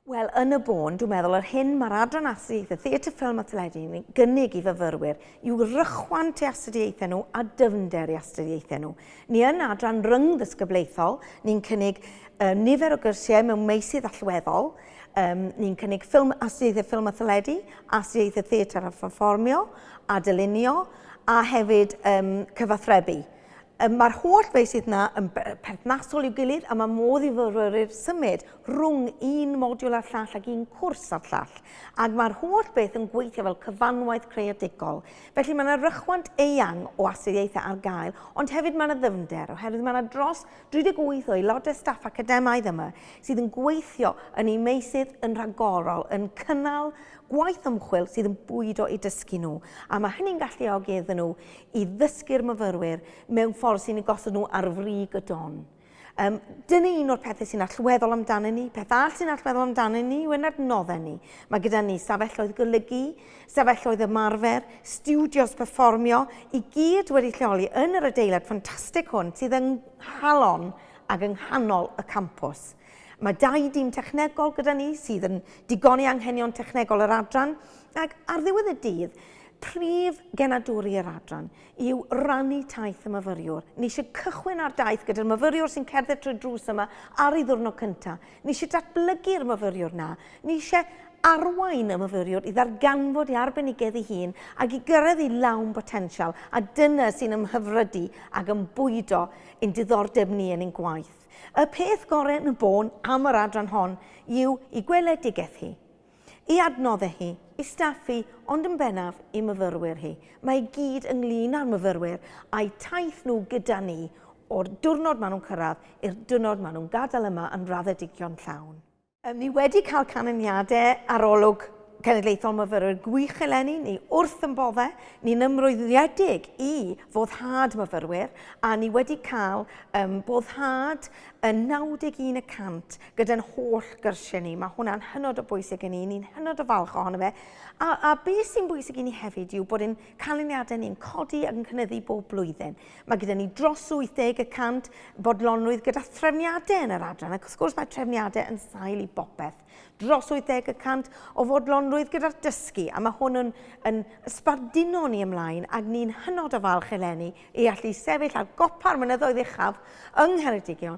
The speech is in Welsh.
Wel, yn y bôn, dwi'n meddwl yr hyn mae'r Adran Astudiaethau Theatr, Ffilm a Teledu yn gynnig i fyfyrwyr yw rychwant i astudiaethau nhw a dyfnder i astudiaethau nhw. Ni yn adran ryngddisgyblaethol, ni'n cynnig um, nifer o gyrsiau mewn meysydd allweddol, um, ni'n cynnig ffilm, astudiaethau ffilm a theledu, astudiaethau theatr a pherfformio, a dylunio, a hefyd um, cyfathrebu. Um, Mae'r holl feysydd yna yn perthnasol i'w gilydd a mae modd i fyfyrwyr symud rhwng un modiwl a'r llall ac un cwrs a'r llall, ac mae'r holl beth yn gweithio fel cyfanwaith creadigol. Felly mae yna rychwant eang o astudiaethau ar gael, ond hefyd mae yna ddyfnder, oherwydd mae yna dros 38 o aelodau staff academaidd yma sydd yn gweithio yn eu meysydd yn rhagorol, yn cynnal gwaith ymchwil sydd yn bwydo eu dysgu nhw, a mae hynny'n galluogi iddyn nhw i ddysgu'r myfyrwyr mewn ffordd sy'n eu gosod nhw ar frig y don. Um, dyna un o'r pethau sy'n allweddol amdano ni. Peth all sy'n allweddol amdano ni yw yn adnoddau ni. Mae gyda ni safelloedd golygu, safelloedd ymarfer, studios performio, i gyd wedi lleoli yn yr adeilad ffantastig hwn sydd yng nghalon ac yng nghanol y campws. Mae dau dîm technegol gyda ni sydd yn digoni anghenion technegol yr adran ac ar ddiwedd y dydd, prif genadwri yr adran yw rannu taith y myfyriwr. Ni eisiau cychwyn ar daith gyda'r myfyriwr sy'n cerdded trwy drws yma ar ei ddwrnod cyntaf. Ni eisiau datblygu'r myfyriwr na. Ni eisiau arwain y myfyriwr i ddarganfod ei arbenigedd ei hun ac i gyrraedd ei lawn botensial, a dyna sy'n ymhyfrydu ac yn bwydo ein diddordeb ni yn ein gwaith. Y peth gorau yn y bôn am yr adran hon yw ei gweledigaeth hi. Ei adnoddau hi, ei staff hi, ond yn bennaf ei myfyrwyr hi. Mae i gyd ynglŷn â'r myfyrwyr a'u taith nhw gyda ni o'r diwrnod maen nhw'n cyrraedd i'r diwrnod maen nhw'n gadael yma yn raddedigion llawn. Ni wedi cael canlyniadau arolwg cenedlaethol myfyrwyr gwych eleni, ni wrth yn boddau, ni'n ymroddedig i foddhad myfyrwyr a ni wedi cael boddhad yn 91 y cant gyda'n holl gyrsiau ni. Mae hwnna'n hynod o bwysig i ni, ni'n hynod o falch ohono fe. A, a beth sy'n bwysig i ni hefyd yw bod ein canlyniadau ni'n codi ac yn cynyddu bob blwyddyn. Mae gyda ni dros 80 y cant bodlonrwydd gyda threfniadau yn yr adran, ac wrth gwrs mae trefniadau yn sail i bopeth. Dros 80 y cant o fodlonrwydd gyda'r dysgu, a mae hwn yn, yn sbarduno ni ymlaen, ac ni'n hynod o falch eleni i allu sefyll ar gopa'r mynyddoedd uchaf yng Ngheredigion